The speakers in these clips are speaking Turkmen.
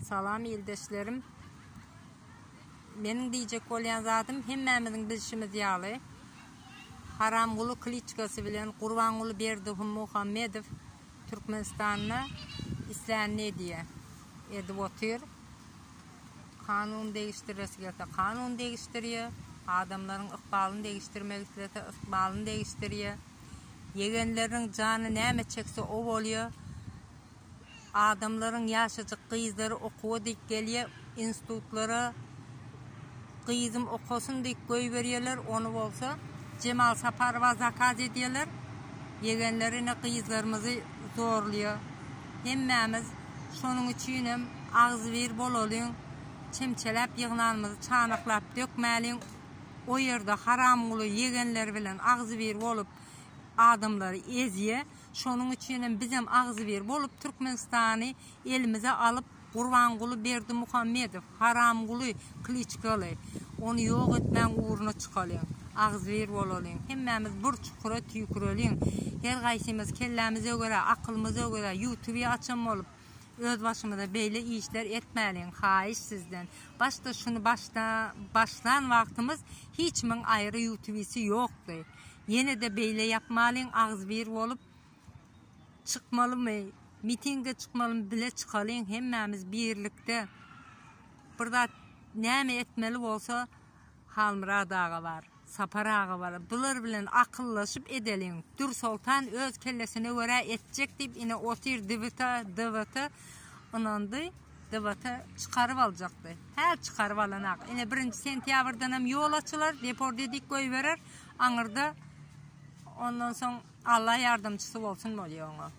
Salam ildeşlerim. Meniň diýjek bolýan zadym hemmämiziň bilşimiz ýaly Haramguly Kliçkasy bilen Gurbanguly Berdihu Muhammedow Türkmenistanda islänini edýär. Edip otyr. Kanun degişdiresi gelse kanun degişdirýär. Adamlaryň ykbalyny degişdirmek islese ykbalyny degişdirýär. Ýegenleriniň jany näme çekse o bolýar. adamlaryň ýaşajyk gyzlary okuwa diýip gelýä institutlara gyzym okasyn diýip goýberýäler ony bolsa Jemal Saparowa zakaz edýäler ýegenleri ine gyzlarymyzy zorlaýa hemmämiz şonuň üçinem agzybir bolalyň çemçeläp ýygnanymyzy çanaklap dökmäliň o ýerde haramguly ýegenleri bilen agzybir bolup adamlary ezýä Şonuň üçin hem bizem agzybir bolup Türkmenistany elimize alyp Gurbanguly Berdimuhamedow, Haramguly, Kliçkaly, ony ýok etmäň ugruna çykalyň. Agzybir bolalyň. Hemmämiz bir çukura tüýküreliň. Her gaýsymyz kellämiz ögere, akylymyz ögere ýutubi açan bolup öz başymyza beýle işler etmäliň. Haýyş sizden. Başda şuny başda başlan wagtymyz hiçimiň aýry ýutubisi ýokdy. Ýenede beýle ýapmalyň agzybir bolup çykmalymy mitinge çykmalymy bile çykalyň hemmämiz birlikde bir zat näme etmeli bolsa Halmyrat aga bar Sapar aga bar bular bilen akyllaşyp edeliň Dür Soltan öz kellesine görä etjek diýip ine otyr dibite dibite ynandy dibite çykaryp aljakdy häl çykaryp alanak ine birinji sentýabrdanam ýol açylar deport edik goýberer Aňyrda ondan soň Allah ýardamçysy bolsun bolýar oňa.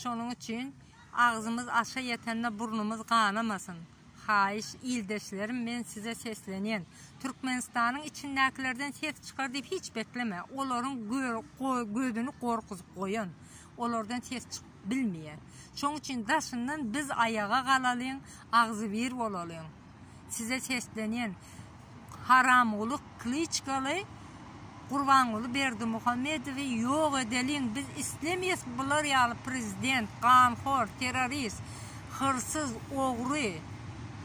Şonuň üçin agzymyz aşa ýetende burnumyz ganamasyn. Haýyş, ildeşlerim, men size seslenýän. Türkmenistanyň içindäkilerden ses çykar diýip hiç bekleme. Olaryň gözüni gorkuzyp goýan. Olardan ses çykyp bilmeýär. Şonuň üçin daşyndan biz aýaga galalyň, agzybir bolalyň. Size seslenýän haramguly klyçkaly gurbanguly berdimuhamedowy ýok edeliň biz islemýes bular ýaly prezident ganhor terrorist hyrsyz ogry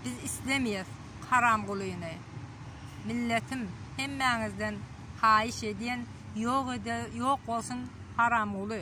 biz islemýes haramgulyny milletim hemmäňizden haýyş edýän ýok ýok bolsun haramguly.